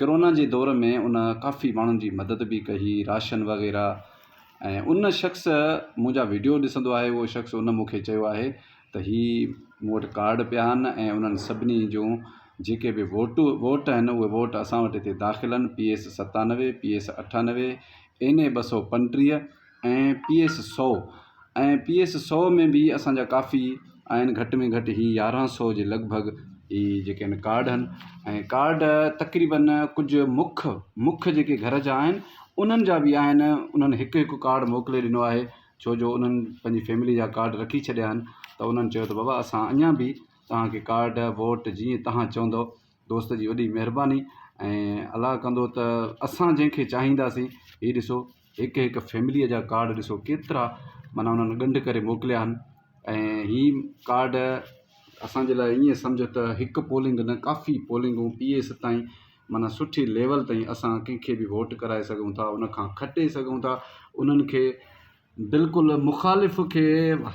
Corona جي دور ۾ ان ڪافي ماڻهن جي مدد به ڪئي راشن وغيره ۽ ان شخص منهنجا ويڊيو ڏسندو آهي اهو شخص ان مونکي چيو آهي ته هي مون وٽ ڪارڊ پيا آهن ۽ انهن سڀني جون جيڪي به ووٽو ووٽ آهن اهي ووٽ اسان وٽ هتي داخل آهن پي ايس ستانوي پي ايس اٺانوي اين اي ٻه سو پنٽيهه ۽ پي ايس سؤ ۽ پي ايس سؤ ۾ به اسان جا ڪافي آهن گهٽ ۾ گهٽ هي يارهن سؤ جي لڳ ڀڳ هي جيڪي آهن ڪارڊ آهن ۽ ڪارڊ تقريبن ڪجهه مک مک جيڪي گهر جا آهن انهن جا بي آهن انهن هڪ هڪ ڪارڊ موڪلي ڏنو آهي ڇو جو انهن پنهنجي فيملي جا ڪارڊ رکي ڇڏيا آهن ته انهن چيو ته بابا اسان اڃان بي توهان کي ڪارڊ ووٽ جيئن توهان چوندو دوست جي وڏي مهرباني ۽ الله ڪندو ته اسان جنهن کي چاهينداسين هي ڏسو هڪ هڪ فيمليء جا ڪارڊ ڏسو ڪيترا معنيٰ انهن ڳنڍ ڪري موڪليا آهن ۽ هي ڪارڊ اسانجي لاء ائين سمجهه ته هڪ پولنگ نه ڪافي پولنگون پي اي ستائين معنيٰ سٺي ليول تائين اسان ڪنهن کي به ووٽ ڪرائي سگهون ٿا ان کان کٽي سگهون ٿا انهن کي بلڪل مخالف کي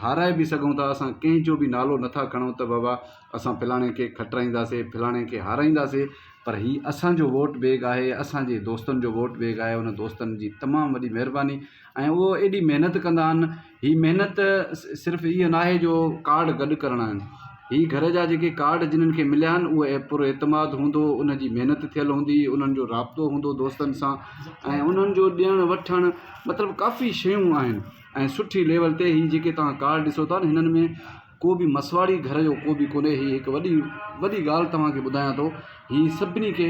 هارائي به سگهون ٿا اسان ڪنهن جو به نالو نٿا کڻون ته بابا اسان فلاڻي کي کٽرائينداسي فلاڻي کي هارائينداسي پر هي اسانجو ووٽ بيگ آهي اسانجي دوستن جو ووٽ بيگ آهي ان دوستن جي تمام وڏي مهرباني ۽ اهو ايڏي محنت ڪندا آهن هي محنت صرف اهي ناهي جو ڪارڊ گڏ ڪرڻا آهن هي گهر جا جيڪي ڪارڊ جنھن کي مليا آھن اهي پر اعتماد هوندو انھن جي محنت ٿيل هوندي انھن جو رابطو هوندو دوستن سان ۽ انھن جو ڏيڻ وٺڻ مطلب ڪافي شيون آھن ۽ سٺي ليول تي هي جيڪي توهان ڪارڊ ڏسو ٿا هنن ۾ ڪو به مسواڙي گهر جو ڪو به ڪونھي هي هڪ وڏي وڏي ڳالھ توهان کي ٻڌايان ٿو هي سڀني کي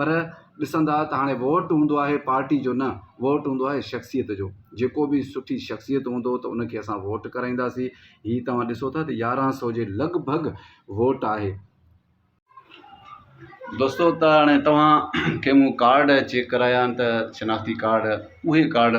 پر ڏسندا ته هاڻي ووٽ هوندو آهي پارٽي جو نه ووٽ هوندو آهي شخصيت جو جيڪو به سٺي شخصيت هوندو ته ان کي اسان ووٽ ڪرائينداسين هي توهان ڏسو ٿا ته يارهن سو جي لڳ ڀڳ ووٽ آهي. دوستو ته هاڻي توهان کي مون ڪارڊ چيڪ ڪرايا آهن ته شناختي ڪارڊ اهي ڪارڊ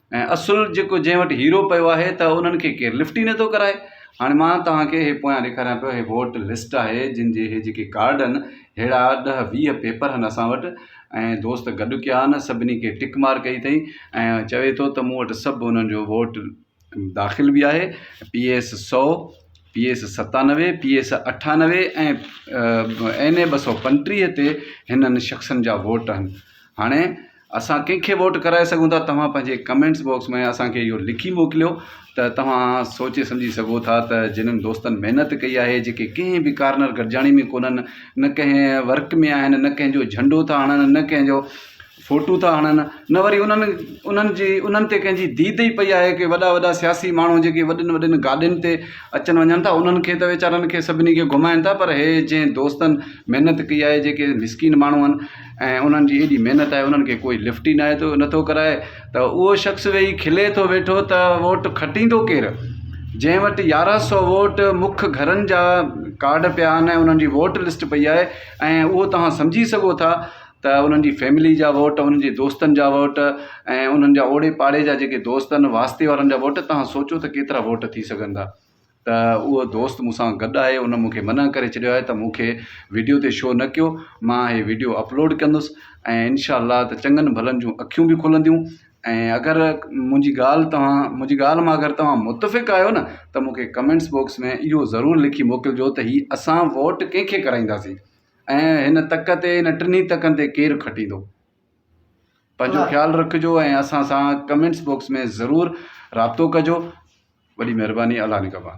۽ اصل جيڪو جنهن وٽ هيرو پيو آهي ته انهن کي ڪير لفٽ ئي نٿو ڪرائي. هاڻي مان توهان کي هي پويان ڏيکاريان پيو هي ووٽ لسٽ آهي جن جي هي جيڪي ڪارڊ ان ههڙا ڏهه ويهه پيپر هن اسان وٽ ۽ دوست گڏ ڪيا ان سڀني کي ٽڪ مار ڪئي اٿئي ۽ چوي ٿو ته مون وٽ سڀ انهن جو ووٽ داخل به آهي پي ايس سو پي ايس ستانوي پي ايس اٺانوي ۽ اين اي ٻه سو پنٽيهه تي هنن شخصن جا ووٽ آهن هاڻي اسان ڪنهن کي ووٽ ڪرائي سگهون ٿا توهان پنهنجي ڪمينٽس باڪس ۾ اسان کي اهو لکي موڪليو ته توهان سوچي سمجهي سگهو ٿا ته جنن دوستن محنت ڪئي آهي جيڪي ڪنهن به ڪارنر گڏجاڻي ۾ ڪونهن نه ڪنهن ورڪ ۾ آهن نه ڪنهن جو جهنڊو ٿا هڻن نه ڪنهن جو فوٽو ٿا هڻن نه وري انهن انهن جي انهن تي ڪنهن جي ديد ئي پئي آهي ڪي وڏا وڏا سياسي ماڻهو جيڪي وڏين وڏين گاڏين تي اچن وڃن ٿا انهن کي ته ويچارن کي سڀني کي گهمائن ٿا پر هي جنهن دوستن محنت ڪئي آهي جيڪي مسڪين ماڻهو آهن ۽ انهن جي ايڏي محنت آهي انهن کي ڪوئي لفٽ ئي ناهي ٿو نٿو ڪرائي ته اهو شخص ويهي کلي ٿو ويٺو ته ووٽ کٽيندو ڪير جنهن وٽ يارهن سو ووٽ مک گهرن جا ڪارڊ پيا آهن ۽ انهن جي ووٽ لسٽ پئي آهي ۽ اهو توهان سمجهي سگهو ٿا ته انهن جي فيملي جا ووٽ انهن جي دوستن جا ووٽ ۽ انهن جا اوڙي پاڙي جا جيڪي دوست آهن واسطي وارن جا ووٽ توهان سوچو ته ڪيترا ووٽ ٿي سگهندا ته اهو دوست مون سان گڏ آهي ان مونکي منع ڪري ڇڏيو آهي ته مونکي ويڊيو تي شو نه ڪيو مان هي ويڊيو اپلوڊ ڪندس ۽ انشاء الله ته چڱن ڀلن جون اکيون بي کلنديون ۽ اگر منهنجي ڳالهه توهان منهنجي ڳالهه مان اگر توهان متفق آهيو نه ته مونکي ڪمينٽس بوڪس ۾ اهو ضرور لکي موڪلجو ته هي اسان ووٽ ڪنهن کي ڪرائينداسين ۽ هن تڪ تي هن ٽنهي تڪن تي ڪير کٽيندو پنهنجو خيال رکجو ۽ اسان سان ڪمينٽس بوڪس ۾ ضرور رابطو ڪجو وڏي مهرباني الله نگهبان.